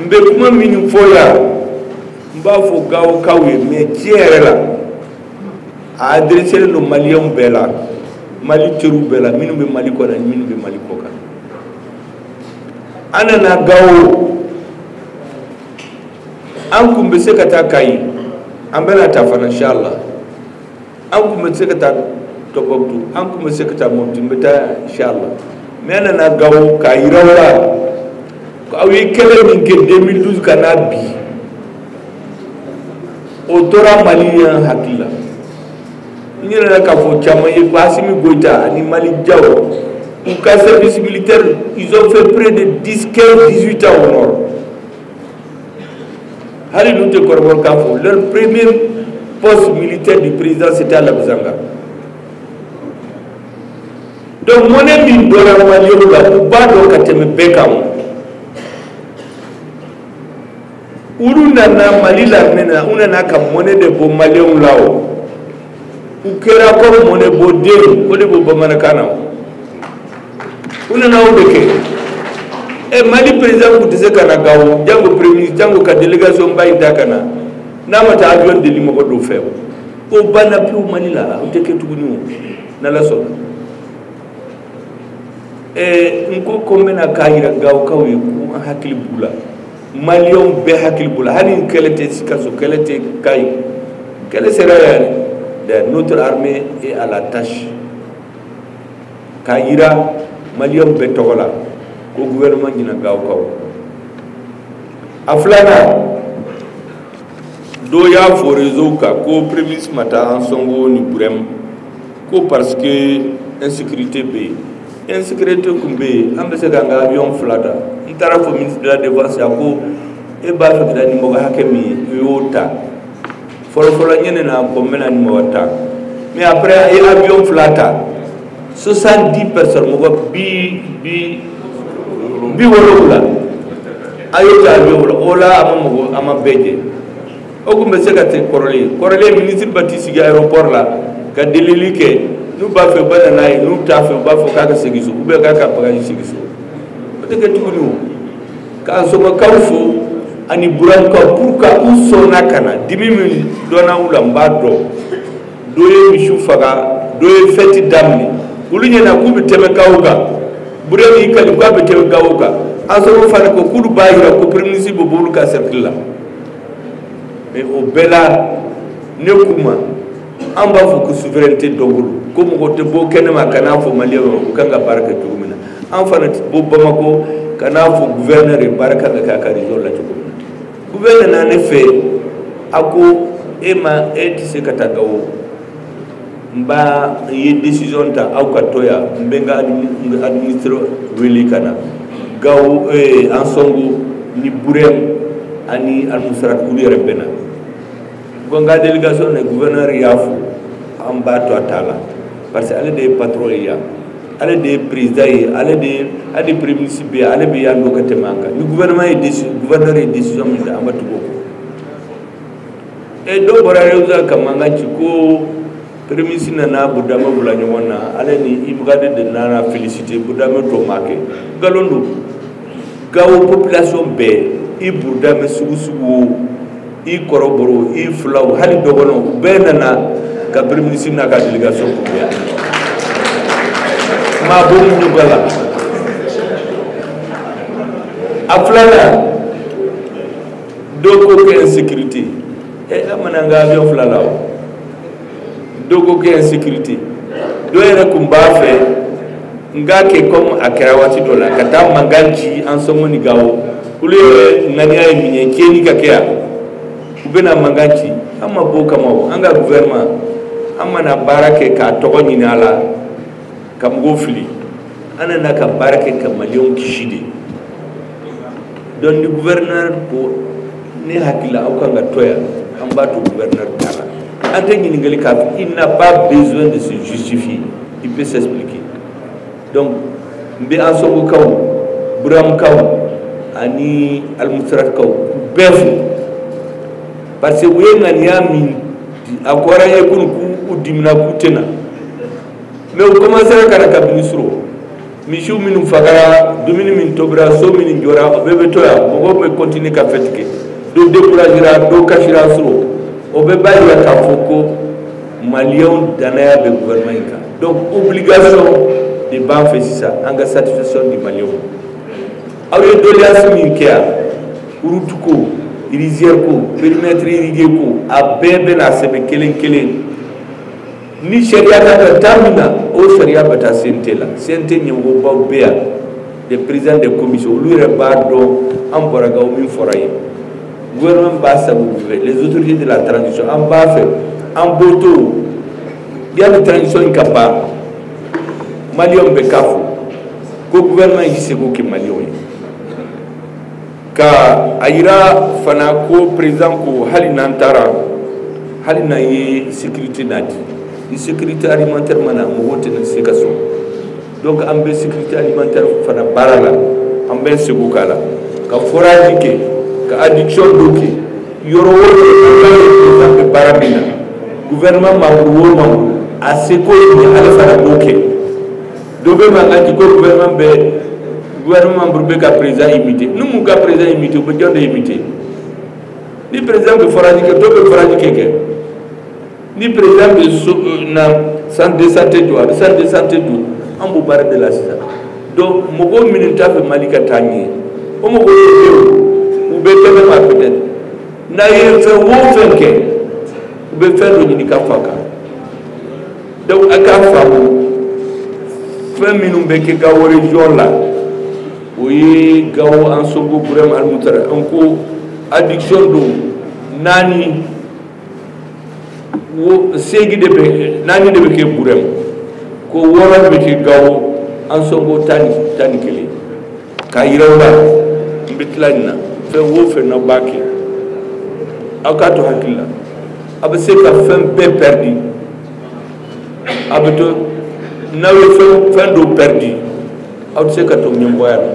n bɛ kuma minnu fɔ yan n b'a fɔ gawokaw ye mais tiɲɛ yɛrɛ la a adreselen don maliyɛnw bɛɛ la mali teriw bɛɛ la minnu bɛ mali kɔnɔ ani minnu bɛ mali kɔ kan an nana gawo an kun bɛ se ka taa kayi an bɛna taa fana inshallah an kun bɛ se ka taa tɔnbukutu an kun bɛ se ka taa mɔputi n bɛ taa inshallah mais an nana gawo k'a yira aw la ko aw ye kɛlɛ min kɛ 2012 ka na bi o tora maliyɛnw hakili la n ɲinɛna k'a fɔ caman ye ko asimi goyita ani maliki jaw u ka service militaire ils ont fait près de 10 15 18 ans au nord hali n'u tɛ kɔrɔbɔrɔkan fɔ leur premier poste militaire du président c'était à Labbezanga donc mɔnɛ min donna maliyɛnw la u b'a dɔn ka tɛmɛ bɛɛ kan o olu nana mali l'armée na u nana ka mɔnɛ de bɔ maliyɛnw la o u kɛra ko mɔnɛbɔdenw o de b'o bamanankan na u nana o de kɛ ɛ mali président tun tɛ se ka na gawo jango premier jango ka délégation ba in ta ka na n'a ma taa avion deli mɔgɔ dɔw fɛ o banna pewu mali la o tɛ kɛ tuguni o n'ala sɔnna ɛ n ko ko n bɛna k'a jira gawokaw ye ko an hakili b'u la maliyɛnw bɛɛ hakili b'u la hali kɛlɛ tɛ sikaso kɛlɛ tɛ kayi kɛlɛ sera yɛrɛ dɛ notre armée est à la tâche k'a jira maliyɛnw bɛɛ tɔgɔ la ko gouvernement ɲina gawokaw a filanan dɔ y'a fɔ réseau kan ko premier ministre ma taa ansɔngo ni burɛmu ko parce que insécurité bɛ yen insécurité tun bɛ yen an bɛ se k'an ka avion fila ta n taara fɔ ministre de la défense ye a ko e b'a fɛ ka taa ni mɔgɔ hakɛ min ye o ta fɔlɔfɔlɔ ne ɲɛ na ko n bɛ na ni mɔgɔ tan mais après a ye avion fila ta 70 personnes mɔgɔ bi bi bi wolonwula a y'o ta avion fɔlɔ o la a ma mɔgɔ a ma bɛɛ cɛ o tun bɛ se ka ten kɔrɔlen kɔrɔlen minisiri bɛ t'i sigi aéroport la ka delili kɛ n'u b'a fɛ u bɛ na n'a ye n'u t'a fɛ u b'a fɔ k'a ka segin so ou bien k'a ka bagaji segin so o tɛ kɛ tuguni o k'ansɔngokaw fo ani burɛmukaw pourquoi u sɔnna ka na dimi min donna u la n b'a dɔn dɔ ye misiw faga dɔ ye fɛti daminɛ olu ɲɛ na k'u bɛ tɛmɛ gawo kan burɛmu y'i kali k'a bɛ tɛmɛ gawo kan ansɔngo fana ko k'olu b'a jira ko premier ministre bɛ bɔ olu ka cercle la mais o bɛɛ la ne k'u ma an b'a fɔ ko souveraineté dɔ bolo ko mɔgɔ tɛ bɔ kɛnɛ ma ka n'a fɔ maliyɛnw kan ka baara kɛ cogo min na an fana tɛ bɔ bamakɔ ka n'a fɔ guvɛrnɛri baara kan ka kɛ a ka région la cogo min na guvɛrnɛri na ne fɛ a ko e ma e tɛ se ka taa gawo n b'a n ye décision ta aw ka to yan n bɛ n ka administre wele ka na gawo eh, ansongo ni burɛm ani almusrat olu yɛrɛ bɛna bɔ n ka délégation na gouverneur y'a fo an b'a to a t'a la parce que ale de ye patron ye yan ale de ye président ye ale de ye hali premier ministre ye ale bɛ yan dɔn ka tɛmɛ an kan ni gouvernement ye décision gouverneur ye décision min ta an bɛ tugu o kɔ e dɔw bɔra yɛrɛ sa ka mankan ci ko pereminisi nana burudame bila ɲɔgɔn na ale ni imghad de nana felisite burudame tɔ ma kɛ nkalon don gawo population bɛɛ i burudame sugu sugu i kɔrɔbɔrɔ i filaw hali dɔgɔnɔw u bɛɛ nana ka pereminisi n'a ka delegation kunbɛn yan maa b'o ɲɔgɔn la a filanan dɔw ko kɛ insécurité ɛ eh, a ma na n ka avion fila la o dɔw ko kɛ insécurité dɔw yɛrɛ tun b'a fɛ n k'a kɛ comme a kɛra waati dɔ la ka taa mankan ci ansongo ni gawo olu yɛrɛ ŋaniya ye min ye tiɲɛni ka kɛ yan u bɛna mankan ci an ma bɔ o kama o an ka gouvernement an ma na baara kɛ ka tɔgɔ ɲini a la ka mɔgɔw fili an nana ka baara kɛ ka maliyɛnw kisi de donc ni gouverneur ko ne hakili la aw kan ka to yan an b'a to gouverneur ta la an tɛ ɲininkali k'a fɛ il n'a pas besoin de se justifier il peut s'expliquer donc n bɛ ansongokaw burɛmukaw ani alimusiratikaw bɛɛ fo parce que u ye ŋaniya min a kɔrɔ ye kunun k'u dimina k'u tɛ na mais u kɔmansera ka na kabini su rɔ misiw minnu fagara dumuni min tobira so minnu jɔra o bɛɛ bɛ to yan mɔgɔw bɛ kɔntini ka fɛti kɛ dɔw dekurajera dɔw kasira su rɔ o bɛɛ b'a jira k'a fɔ ko maliyɛnw dannaya bɛ gouvernement in kan donc obligation de b'an fɛ sisan an ka satisfaction di maliyɛnw aw ye doléance min kɛ yan route ko rizière ko périmètre irrigué ko a bɛɛ bɛna sɛbɛn kelen kelen ni sariya kan ka ta min na o sariya bɛ taa CNT la CNT ɲɛmɔgɔbaw bɛ yan des présidents de commission olu yɛrɛ b'a dɔn an bɔra gawo min fɔra yen gouvernement b'a sago fɛ les autorités de la transition an b'a fɛ an b'o to yanni transition in ka ban maliyɛnw bɛɛ k'a fɔ ko gouvernement y'i seko kɛ maliyɛnw ye ka a jira fana ko président ko hali n'an taara hali n'an ye sekirite nati ni sekirite alimantɛri ma na mɔgɔw tɛna se ka sɔn donc an bɛ sekirite alimantɛri fana baara la an bɛ seko kɛ la ka foraji kɛ ka adduction d'eau kɛ yɔrɔ o yɔrɔ an bɛ baara min na gouvernement membre o membre a seko ye ale fana b'o kɛ Dɔ bɛ mankan ci ko gouvernement bɛ gouvernement membre bɛ ka président imiter n'u m'u ka président imiter u bɛ jɔn de imiter ni président bɛ forage kɛ dɔ bɛ forage kɛ kɛ ni président bɛna centre de santé jɔ a bɛ centre de santé jɔ an b'o baara de la sisan donc mɔgɔw minnu t'a fɛ Mali ka taa ɲɛ o mɔgɔw bɛ yen u bɛ tɛmɛ ma peut être n'a ye fɛn o fɛn kɛ u bɛ fɛn dɔ ɲini ka f'a kan. donc a k'a faamu fɛn minnu bɛ kɛ gawo region la o ye gawo ansongo burɛm almustarat an ko adduction d'eau naani wo seegin de bɛ naani de bɛ kɛ burɛm ko wɔɔrɔ bɛ kɛ gawo ansongo tan ni tan ni kelen k'a yira aw la n bɛ tila nin na fɛn o fɛn n'aw b'a kɛ aw k'a to hakili la aw bɛ se ka fɛn bɛɛ pɛridi aw bɛ to n'aw ye fɛn dɔw pɛridi aw tɛ se ka to ɲɛmɔgɔya la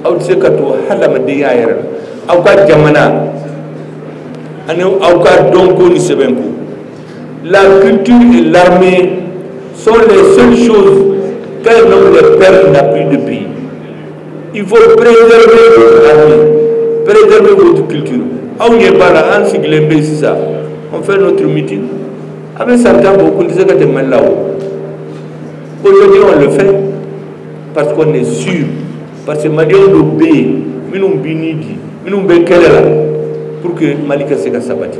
aw tɛ se ka to hadamadenya yɛrɛ la aw ka jamana ani aw ka dɔnko ni sɛbɛnko Latu ni lammi so de selisu ka bɛ la bi de bi i fɔ bere bere bɛ ki aw ye ba la an sigilen bɛ sisan an fɛn n'o tun miti a bɛ san tan bɔ ko tɛ se ka tɛmɛ mali la o ko jɔn le fɛn parce qu'on est sûr parce que malidenw dɔ bɛ yen minnu bɛ ni di minnu bɛ kɛlɛ la pour que mali ka se ka sabati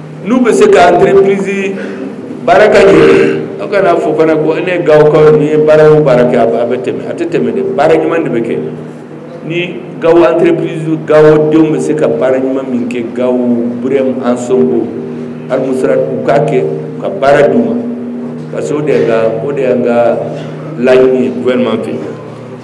n'u bɛ se ka entreprise baara ka ɲɛ aw kan'a fɔ fana ko ne gawokaw n'i ye baara o baara kɛ a bɛ tɛmɛ a tɛ tɛmɛ dɛ baara ɲuman de bɛ kɛ ni gawo entreprise gawo denw bɛ se ka baara ɲuman min kɛ gawo burɛm ansongo almustarat u k'a kɛ u ka baara d'u ma parce que o de y'an ka o de y'an ka laɲini ye gouvernement fɛ